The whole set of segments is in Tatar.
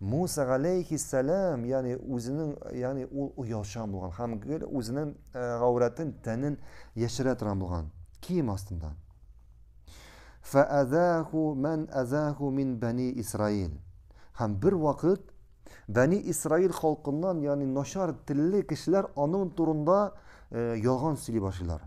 Муса галәйһиссәлам, ягъни үзенең, ягъни ул оялчан булган һәм гел үзенең э, гаурәтен, тәнен яшерә торган булган. Кием астында. Фәәзәху мән әзәху мин бәни Исраил. Һәм бер вакыт Бәни Исраил халкыннан, ягъни начар телле кешеләр аның турында э, ялган сөйли башлыйлар.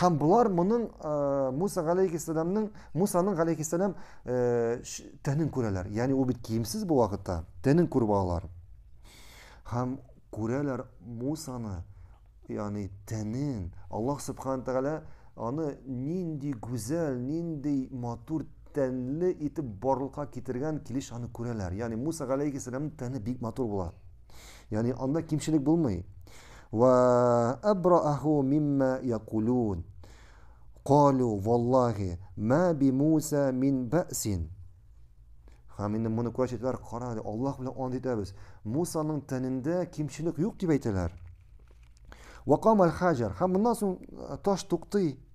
Һәм болар моның э, Муса галәйхиссәламның Мусаның галәйхиссәлам э, тәнен күрәләр. Ягъни ул бит киемсез бу вакытта. Тәнен күреп алалар. Һәм күрәләр Мусаны, ягъни тәнен. Аллаһ субхана тәгалә аны нинди гүзәл, нинди матур тәнле итеп барлыкка китергән килеш аны күрәләр. Ягъни Муса галәйхиссәламның тәне бик матур була. Яни анда кимчелек булмый. Ва абрааху мимма якулун. Калу валлахи ма би Муса мин бәсин. Һәм инде моны күрә читләр кара, Аллаһ белән ант итәбез. Мусаның тәнендә кимчелек юк дип әйтәләр. Вакам аль-хаҗар. Һәм моннан соң таш туктый.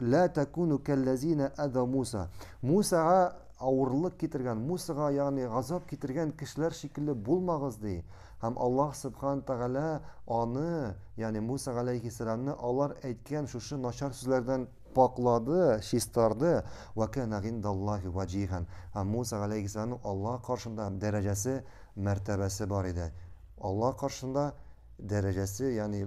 Ла такуну кәлләзина әза Муса. Мусага авырлык китергән, Мусага, ягъни газап китергән кешеләр шикелле булмагыз ди. Һәм Аллаһ Субхан Тәгалә аны, ягъни Муса галәйһиссәламне алар әйткән шушы начар сүзләрдән пакълады, чистарды. Ва кана гиндаллаһи ваҗиһан. Һәм Муса галәйһиссәламның Аллаһ каршында дәрәҗәсе, мәртәбәсе бар иде. Аллаһ каршында дәрәҗәсе, ягъни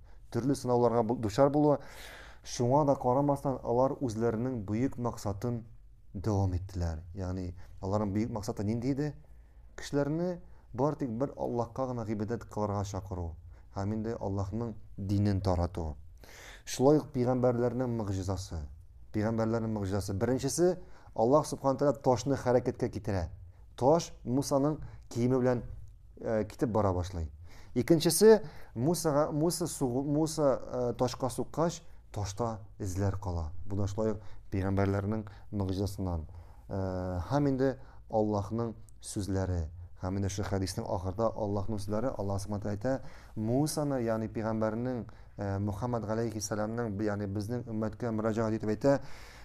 төрле сынауларга дучар булуы. Шуңа да карамастан, алар үзләренең бөек максатын дәвам иттеләр. Ягъни, аларның бөек максаты нинди иде? Кешеләрне бар тик бер Аллаһка гына гыйбадәт кылырга чакыру һәм инде Аллаһның динен тарату. Шулай ук пигамбәрләрнең мөгъҗизасы. Пигамбәрләрнең мөгъҗизасы. Беренчесе, Аллаһ субханә тәгалә ташны хәрәкәткә китерә. Таш Мусаның киеме белән э, китеп бара башлый. Икенчесе Мусага Муса сугу Муса э, ташка суккач, ташта эзләр кала. Бу да шулай пәйгамбәрләрнең мөгъҗизасыннан. Э, һәм инде Аллаһның сүзләре. Һәм инде шул хәдиснең ахырда Аллаһның сүзләре Аллаһ Субтитры әйтә, Мусаны, ягъни пәйгамбәрнең э, Мухаммад галәйһи сәламның, ягъни безнең өммәткә мөрәҗәгать итеп әйтә,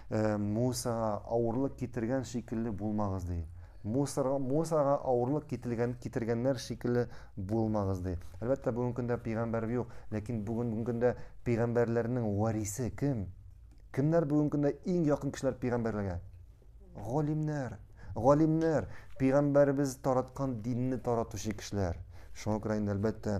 Мусага авырлык китергән шикелле булмагыз ди. Мусорга, мусорга авырлык кителгән, китергәннәр шикелле булмагыз, ди. Әлбәттә, бүгенге көндә пигамбәр юк, ләкин бүгенге көндә пигамбәрләрнең варисе кем? Кемнәр бүгенге көндә иң якын кешеләр пигамбәрләргә? Галимнәр. Галимнәр, пигамбәребез тараткан динне таратучы кешеләр. Шуңа күрә инде, әлбәттә,